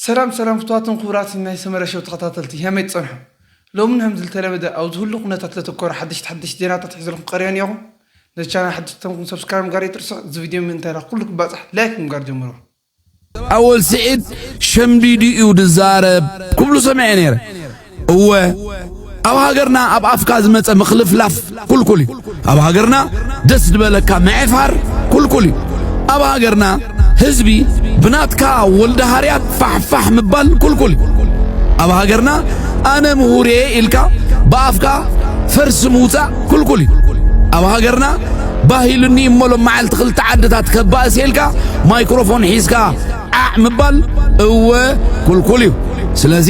ሰላም ሰላም ፍቱዋትን ክቡራትን ናይ ሰመረ ሸው ተኸታተልቲ ከመይ ትጸንሑ ሎሚ ን ከምዝልተለመደ ኣብ ዝህሉ ኩነታት ዘተኮረ ሓደሽቲ ሓደሽቲ ዜናታት ሒዘልኩም ቀሪበ ኔኹ ነዚ ቻነል ሓደሽቲ ተንኩም ሰብስክራይብ ምግባር ኣይትርስዑ እዚ ቪድዮ ምእንታይ ንኹሉ ክባጻሕ ላይክ ብምግባር ጀምርዎ። ኣወል ስዒድ ሸምዲዱ እዩ ዝዛረብ ክብሉ ሰሚዐ ነይረ። እወ ኣብ ሃገርና ኣብ ኣፍካ ዝመጸ ምኽልፍላፍ ኩልኩል እዩ ኣብ ሃገርና ደስ ዝበለካ ምዕፋር ኩልኩል እዩ ኣብ ሃገርና ህዝቢ ብናትካ ወልደ ሃርያት ፋሕፋሕ ምባል ኩልኩል እዩ ኣብ ሃገርና ኣነ ምሁር እየ ኢልካ ብኣፍካ ፈርሲ ምውጻእ ኩልኩል እዩ ኣብ ሃገርና ባህሉኒ እሞ ሎም መዓልቲ ክልተ ዓድታት ከባእስ ኢልካ ማይክሮፎን ሒዝካ ዓዕ ምባል እወ ኩልኩል እዩ ስለዚ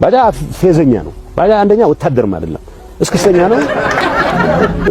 ባጃ ፌዘኛ ነው። ባጃ አንደኛ ወታደርም አይደለም፣ እስክስተኛ ነው፣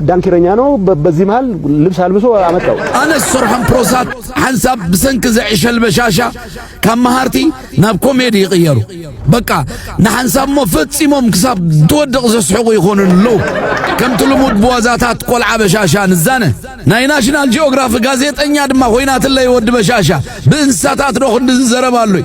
ዳንኪረኛ ነው። በዚህ መሃል ልብስ አልብሶ አመጣው። አነ ዝሰርሖም ፕሮሳት ሓንሳብ ብሰንኪ ዘዕሸል በሻሻ ካብ መሃርቲ ናብ ኮሜዲ ይቕየሩ። በቃ ንሓንሳብ እሞ ፈጺሞም ክሳብ ትወድቕ ዘስሕቑ ይኾኑ ኣለዉ። ከምቲ ልሙድ ብዋዛታት ቆልዓ በሻሻ ንዛነ ናይ ናሽናል ጂኦግራፊ ጋዜጠኛ ድማ ኮይናትለይ ወዲ በሻሻ ብእንስሳታት ዶ ክንዲ ዝዘረባሉይ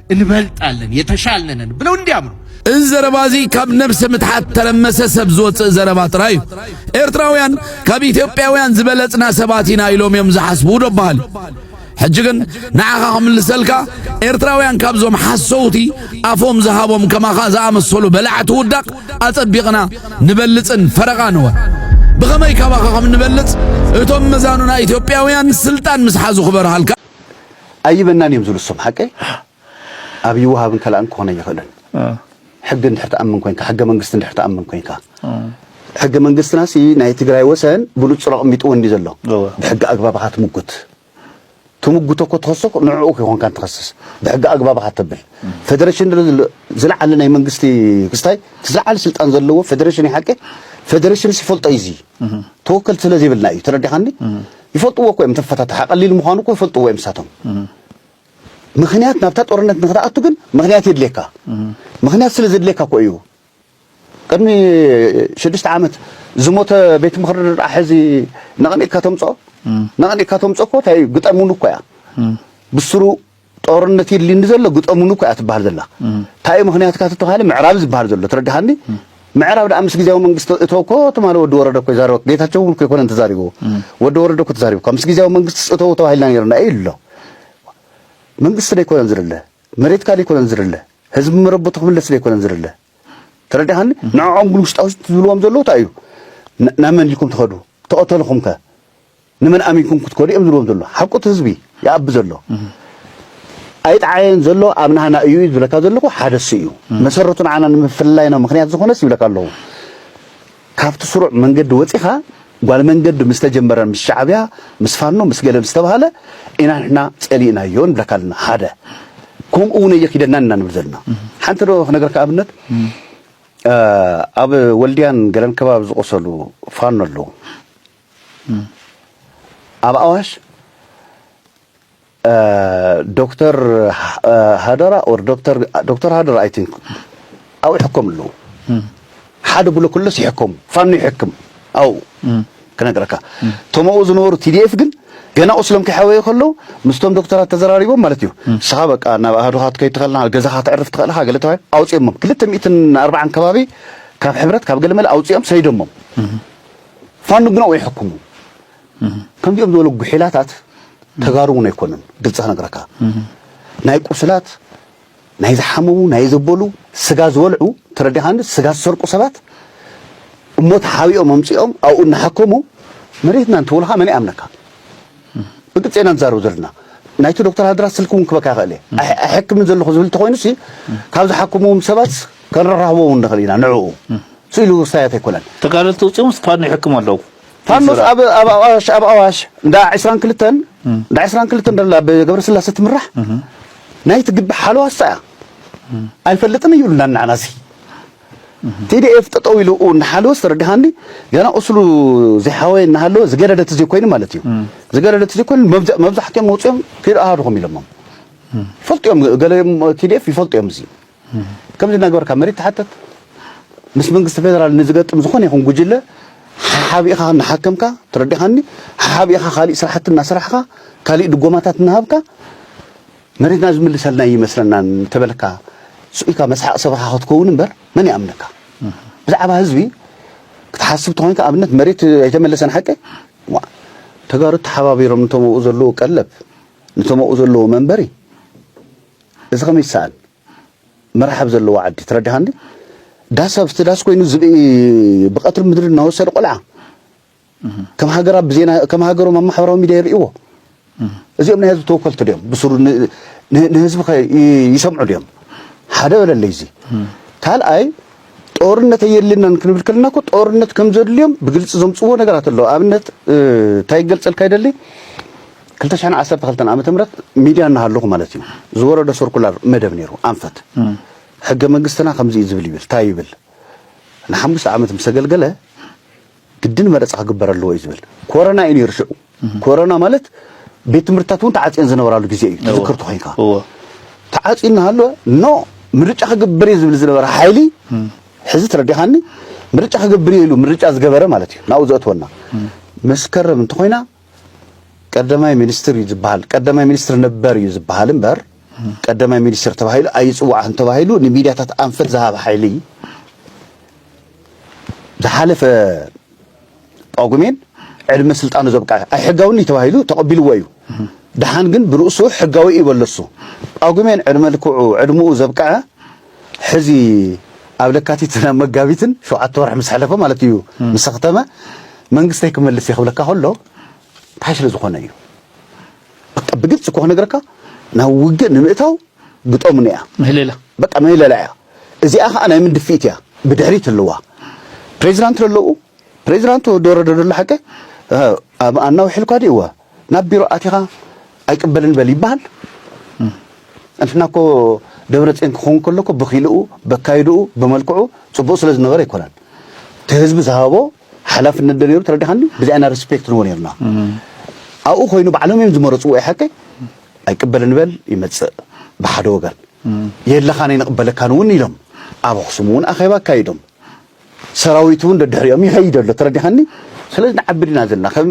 እንበልጣለን የተሻልነንን ብለው እንዲያምኑ እዚ ዘረባ እዚ ካብ ነብሰ ምትሓት ተረመሰ ሰብ ዝወፅእ ዘረባ ጥራይ እዩ። ኤርትራውያን ካብ ኢትዮጵያውያን ዝበለጽና ሰባት ኢና ኢሎም እዮም ዝሓስቡ ዶ በሃል። ሕጂ ግን ንዓኻ ክምልሰልካ ኤርትራውያን ካብዞም ሓሰውቲ ኣፎም ዝሃቦም ከማኻ ዝኣመሰሉ በላዕቲ ውዳቕ ኣጸቢቕና ንበልጽን ፈረቓ ንወ ብኸመይ ካባኻ ከም ንበልጽ እቶም መዛኑና ኢትዮጵያውያን ስልጣን ምስ ሓዙ ክበርሃልካ ኣይበናን እዮም ዝብሉ እሶም ሓቀይ ኣብ ይወሃብን ከላእን ክኾነ ይኽእልን ሕጊ እንድሕር ትኣምን ኮንካ ሕገ መንግስቲ እንድሕር ትኣምን ኮንካ ሕገ መንግስትና ሲ ናይ ትግራይ ወሰን ብንጹር ኣቕሚጥዎ እንዲ ዘሎ ብሕጊ ኣግባብኻ ትምጉት ትምጉቶ እኮ ትኸሶ ንዕኡ ክኾንካ እንትኸስስ ብሕጊ ኣግባብኻ ተብል ፌደሬሽን ዝለዓለ ናይ መንግስቲ ክስታይ ዝለዓለ ስልጣን ዘለዎ ፌደሬሽን ይሓቂ ፌደሬሽን ሲፈልጦ እዩ እዚ ተወከልቲ ስለ ዘይብልና እዩ ተረዲኻኒ ይፈልጥዎ እኮ እዮም ተፈታታሒ ቀሊል ምዃኑ እኮ ይፈልጥዎ እዮም ንሳቶም ምክንያት ናብታ ጦርነት ንክትኣቱ ግን ምክንያት የድልየካ ምክንያት ስለ ዘድልየካ እኮ እዩ ቅድሚ ሽዱሽተ ዓመት ዝሞተ ቤት ምክሪ ድርኣ ሕዚ ነቐኒቕካ ተምፅኦ ነቐኒቕካ ተምፅኦ እኮ እንታይ እዩ ግጠሙን እኮ እያ ብስሩ ጦርነት የድልይኒ ዘሎ ግጠሙኒ እኮ እያ ትበሃል ዘላ እንታይ እዩ ምኽንያትካ ተተባሃለ ምዕራብ እዩ ዝበሃል ዘሎ ትረድሃኒ ምዕራብ ደኣ ምስ ግዜያዊ መንግስቲ እቶ እኮ ትማሊ ወዲ ወረደ እኮ ይዛረበ ጌታቸው እውን እኮ ኣይኮነን ተዛሪብዎ ወዲ ወረደ እኮ ተዛሪቡ እኳ ምስ ግዜያዊ መንግስቲ እተው ተባሂልና ነርና እዩ ኣሎ መንግስቲ ዘይኮነን ዝርለ መሬትካ ዘይኮነን ዝርለ ህዝቢ መረበቱ ክምለስ ዘይኮነን ዝርለ ተረዲኻኒ ንዕዖም ግን ውሽጣ ውሽጢ ዝብልዎም ዘለዉ እንታይ እዩ ናብ መን ኢልኩም ትኸዱ ተቐተልኹም ከ ንመን ኣሚንኩም ክትከዱ እዮም ዝብሎም ዘሎ ሓቁ እቲ ህዝቢ ይኣቢ ዘሎ ኣይጠዓየን ዘሎ ኣብ ናህና እዩ ዝብለካ ዘለኹ ሓደ እሱ እዩ መሰረቱ ንዓና ንምፍልላይና ምክንያት ዝኾነስ ይብለካ ኣለኹ ካብቲ ስሩዕ መንገዲ ወፂኻ ጓል መንገዲ ምስ ተጀመረ ምስ ሻዕብያ ምስ ፋኖ ምስ ገለ ምስ ተባሃለ ኢና ንሕና ፀሊእናዮ ንብለካ ኣለና ሓደ ከምኡ እውን እየኪደና ኢና ንብል ዘለና ሓንቲ ዶ ክነገርካ ኣብነት ኣብ ወልድያን ገለን ከባቢ ዝቆሰሉ ፋኖ ኣለዉ ኣብ ኣዋሽ ዶክተር ሃደራ ኦር ዶክተር ዶክተር ሃደራ ኣይ ቲንክ ኣብኡ ይሕከሙ ኣለዉ ሓደ ብሎ ክለስ ይሕከሙ ፋኖ ይሕክም ኣብኡ ክነግረካ ቶምኡ ዝነበሩ ቲዲኤፍ ግን ገና ቁስሎም ከይሓወየ ከለዉ ምስቶም ዶክተራት ተዘራሪቦም ማለት እዩ ንስኻ በቃ ናብ ኣሃዱኻ ትከይድ ትኽእልና ገዛኻ ተዕርፍ ትኽእልኻ ገለ ተባሂ ኣውፅኦሞም ክልተ ሚእትን ኣርባዓን ከባቢ ካብ ሕብረት ካብ ገለመለ ኣውፅኦም ሰይዶሞም ፋኖ ግን ኣብኡ ይሕክሙ ከምዚኦም ዝበሉ ጉሒላታት ተጋሩ እውን ኣይኮነን ግልፂ ክነግረካ ናይ ቁስላት ናይ ዝሓመሙ ናይ ዘበሉ ስጋ ዝበልዑ ተረዲኻኒ ስጋ ዝሰርቁ ሰባት እሞ ተሓቢኦም ኣምፂኦም ኣብኡ እናሓከሙ መሬትና እንትብሉካ መን ይኣምነካ ብግልጺ ኢና ንዛረብ ዘለና። ናይቲ ዶክተር ሃድራ ስልኪ እውን ክበካ ይኽእል እየ። ኣይሕክምን ዘለኹ ዝብል እንተኾይኑሲ ካብ ዝሓክምዎም ሰባትስ ከነራኽቦ እውን ንኽእል ኢና ንዕኡ ስኢሉ ውርሳያት ኣይኮነን። ተጋደልቲ ወጺኦምስ ፋኖ ይሕክሙ ኣለዉ። ፋኖስ ኣብ ኣብ ኣዋሽ ኣብ ኣዋሽ እንዳ 20 ክልተን እንዳ 20 ክልተን ደላ ብገብረስላሴ ትምራሕ ናይቲ ግቢ ሓለዋ እሳ እያ ኣይፈልጥን እዩ ኢሉና ንዓና እዚ TDF ጠጠው ኢሉ እናሓለወስ ተረድሃኒ ገና ቁስሉ ዘይሓወየ እናሃለወ ዝገደደ ተዘይኮይኑ ማለት እዩ ዝገደደ ተዘይኮይኑ መብዛሕትኦም መውፅኦም ፊር ኣሃዱኹም ኢሎሞም ይፈልጡ እዮም ገለ TDF ይፈልጡ እዮም እዚ ከምዚ እናገበርካ መሬት ትሓተት ምስ መንግስቲ ፌደራል ንዝገጥም ዝኾነ ይኹን ጉጅለ ሓሓቢእኻ እናሓከምካ ተረዲኻኒ ሓሓቢእኻ ካሊእ ስራሕቲ እናሰራሕኻ ካሊእ ድጎማታት እናሃብካ መሬትና ዝምልሰልና እይመስለናን እንተበልካ ስቅ ኢልካ መስሓቅ ሰብኻ ክትከውን እምበር መን ይኣምነካ ብዛዕባ ህዝቢ ክትሓስብ ተኾይንካ ኣብነት መሬት ኣይተመለሰን ሓቂ ዋ ተጋሩ ተሓባቢሮም ነቶም ኣብኡ ዘለዎ ቀለብ ነቶም ኣብኡ ዘለዎ መንበሪ እዚ ከመይ ይሰኣን መራሕብ ዘለዎ ዓዲ ትረዳሃኒ ዳስ ኣብ ዳስ ኮይኑ ዝብኢ ብቀትሪ ምድሪ እናወሰደ ቆልዓ ከም ሃገር ኣብ ዜና ከም ሃገሮም ኣብ ማሕበራዊ ሚድያ ይርእይዎ እዚኦም ናይ ህዝቢ ተወከልቲ ድዮም ብስሩ ንህዝቢ ከ ይሰምዑ ድዮም ሓደ በለለይ እዚ ካልኣይ ጦርነት የድልናን ክንብል ከለና እኮ ጦርነት ከም ዘድልዮም ብግልፂ ዘምፅዎ ነገራት ኣሎ ኣብነት እንታይ ይገልፀልካ ይደሊ 212 ዓመተ ምህረት ሚድያ እናሃለኹ ማለት እዩ ዝወረደ ሰርኩላር መደብ ነይሩ ኣንፈት ሕገ መንግስትና ከምዚ እዩ ዝብል ይብል እንታይ ይብል ንሓሙሽተ ዓመት ምስ ኣገልገለ ግድን መረፃ ክግበር ኣለዎ እዩ ዝብል ኮረና እዩ ነይሩ ሽዑ ኮረና ማለት ቤት ትምህርትታት እውን ተዓፅየን ዝነበራሉ ግዜ እዩ ትዝክር ተኮይንካ ተዓፅዩ እናሃለወ ኖ ምርጫ ክግበር እዩ ዝብል ዝነበረ ሓይሊ ሕዚ ተረዲኻኒ ምርጫ ክግብር እዩ ኢሉ ምርጫ ዝገበረ ማለት እዩ ናብኡ ዘእትወና መስከረም እንተኮይና ቀዳማይ ሚኒስትር እዩ ዝበሃል ቀዳማይ ሚኒስትር ነበር እዩ ዝበሃል እምበር ቀዳማይ ሚኒስትር ተባሂሉ ኣይፅዋዕን ተባሂሉ ንሚድያታት ኣንፈት ዝሃብ ሓይሊ ዝሓለፈ ጳጉሜን ዕድመ ስልጣኑ ዘብቅዐ ኣይሕጋውን እዩ ተባሂሉ ተቐቢልዎ እዩ ድሓን ግን ብርእሱ ሕጋዊ እዩ በለሱ ጳጉሜን ዕድመ ልክዑ ዕድምኡ ዘብቅዐ ሕዚ ኣብ ለካቲትን ኣብ መጋቢትን ሸውዓተ ወርሒ ምስ ሕለፈ ማለት እዩ ምስ ኣኽተመ መንግስተይ ክመልስ እየ ክብለካ ከሎ እንታይ ስለ ዝኾነ እዩ በቃ ብግልፂ እኮ ክነግረካ ናብ ውግእ ንምእታው ግጠሙኒ እያ ምህለላ በቃ ምህለላ እያ እዚኣ ከዓ ናይ ምን ድፍኢት እያ ብድሕሪት ኣለዋ ፕሬዚዳንት ለለኡ ፕሬዚዳንት ወዲ ወረደ ደሎ ሓቂ ኣናውሒ ኢልኳ ድእዋ ናብ ቢሮ ኣቲኻ ኣይቅበልን በል ይበሃል እንትና እኮ ደብረፅዮን ክኸውን ከሎ እኮ ብኪልኡ በካይድኡ ብመልክዑ ፅቡቅ ስለ ዝነበረ ኣይኮነን እቲ ህዝቢ ዝሃቦ ሓላፍነት ዶ ነይሩ ተረዲኻኒ ብዚኣ ኢና ሪስፔክት ንዎ ነርና ኣብኡ ኮይኑ ባዕሎም እዮም ዝመረፅዎ እዩ ሓቀይ ኣይቅበልን በል ይመፅእ ብሓደ ወገን የለኻን ኣይንቕበለካን እውን ኢሎም ኣብ ኣኽሱም እውን ኣኼባ ኣካይዶም ሰራዊት እውን ደድሕሪኦም ይኸይድ ኣሎ ተረዲኻኒ ስለዚ ንዓቢ ዲና ዘለና ከም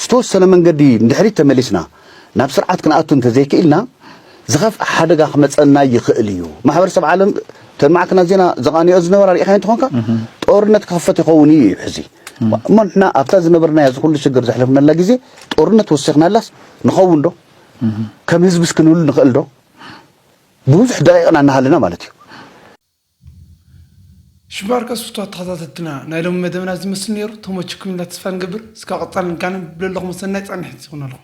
ዝተወሰነ መንገዲ ንድሕሪት ተመሊስና ናብ ስርዓት ክንኣቱ እንተዘይክኢልና ዝኸፍኣ ሓደጋ ክመፀና ይኽእል እዩ ማሕበረሰብ ዓለም እተን ማዕከናት ዜና ዘቓንዮ ዝነበራ ርኢኻዮ እንትኾንካ ጦርነት ክኽፈት ይኸውን እዩ እዩ ሕዚ እሞ ንሕና ኣብታ ዝነበርናያ እዚ ኩሉ ሽግር ዘሕለፍናላ ግዜ ጦርነት ወሲኽናላስ ንኸውን ዶ ከም ህዝብስ ክንህሉ ንኽእል ዶ ብብዙሕ ደቂቕና እናሃለና ማለት እዩ ሽባርከስ ፍትዋት ተከታተልትና ናይ ሎሚ መደብና እዚ ይመስል ነይሩ ተሞችኩም ኢልና ተስፋ ንገብር እስካብ ቀፃሊ ንጋነን ብለለኩም ሰናይ ፃኒሕት ይኩነልኩም።